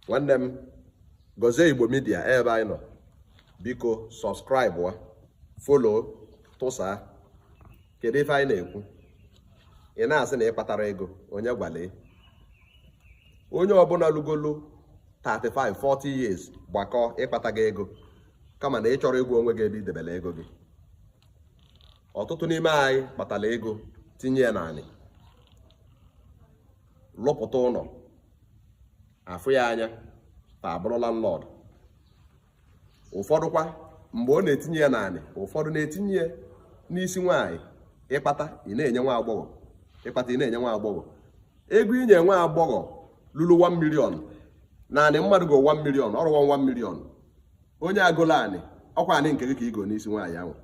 nwanne m gọzie igbo media ebe anyị nọ biko subscribeụọ follow tụsa kedu ife anyị na-ekwu ị na-asị na ị kpatarọ ego onye gwalụ ị onye ọbụna lugolo 35 40 years gbakọọ ị kpatago ego kama na ị chọrọ ịgwa onwe gị ebe i debere ego gị ọtụtụ n'ime anyị kpatara ego tinye ya n'anị lụpụta ụnọ a fụ ya anya taa abụrụ landlord ụfọdụkwa mgbe ọ na-etinye ya n'anị ụfọdụ na-etinye ya n'isi nwaanyị ị kpata ị na-enye nwa agbọghọ ị kpata ị na-enye nwa agbọghọ ego i nye nwa agbọghọ lulu 1 million na anị mmadụ go 1 million ọrụ 1 million onye a golu anị ọ kwa anị nke gị ka i go n'isi nwaanyị ahụ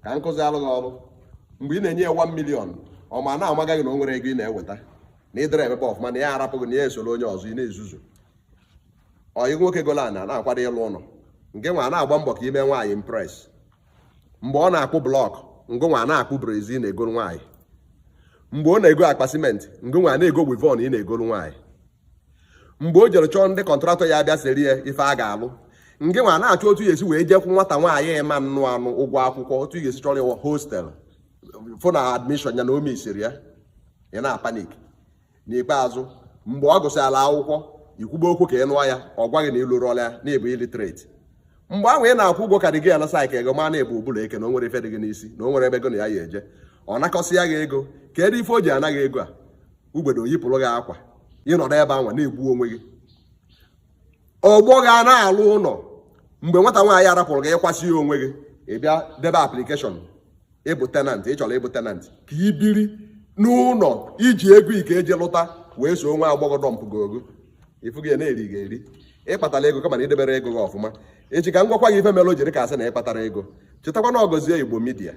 ka nkụzi alụ gị ọrụ mgbe ị na-enye ya 1 million ọ ma na-amaja gị na o nwerọ ego ị na-eweta na ị dịrọ emebe ọfụma na ya arapụ gị na ya esoro onye ọzọ ị na-ezuzu ọyị nwoke golu anị na-akwado ịlụ ụnọ ngị nwa na-agba mbọ ka i mee nwaanyị impress mgbe ọ na-akpụ block ngị nwa na-akpụ brezi na-egolu nwaanyị mgbe ọ na-ego akpa simenti ngị nwa na-ego weavon ị na-egolu nwaanyị mgbe o jere chọọ ndị contractor ya bịa seere ya ife a ga-alụ ngị nwa na-achọ otu ị ya-esi wee je kwụọ nwata nwaanyị ị ma-anụ anụ ụgwọ akwụkwọ otu ị ya-esi chọọrọ ya hostel fụ na admission ya na o mesiri ya ị na-apanic n'ikpeazụ mgbe ọ gụsịala akwụkwọ i kwube okwu ka ị nụọ ya ọ gwa gị na ịlụrụọla ya na ị bụ illiterate mgbe ahụ ị na-akwụ ụgwọ ka dị gị alasa ka ego ma na-ebu ụbụla eke na o nwerọ ife dị gị n'isi na o nwerọ ebe gị na ya ya-eje ọ nakọsịa gị ego kedu ife o ji ana gị ego a ugbede o yipụrụ gị akwa ị nọdụ ebe anwa na-egbu onwe gị ọgbọ gị ana-alụ ụnọ mgbe nwata nwaanyị arapụrụ gị ị kwasịa onwe gị ị bịa debe application ịbụ tenant ị chọrọ ịbụ tenant ka ị biri n'ụnọ i ji ego ị ka-eji lụta wee soo nwa agbọghọ dọmpụ gị ogo ịfụ gị na-eri gị eri ị kpatara ego kama na i deberọ ego gị ọfụma echi ka m gwakwa gị ife mere o ji dị ka a sị na ị kpatarọ ego chetakwa na ọ gọzie igbo media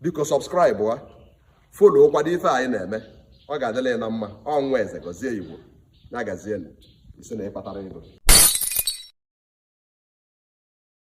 biko subscribeụọ follow kwado ife anyị na-eme ọ ga-adịlị anyị na mma ọ nwa eze gọzie igbo ya gazienụ ị sị na ị kpatarọ ego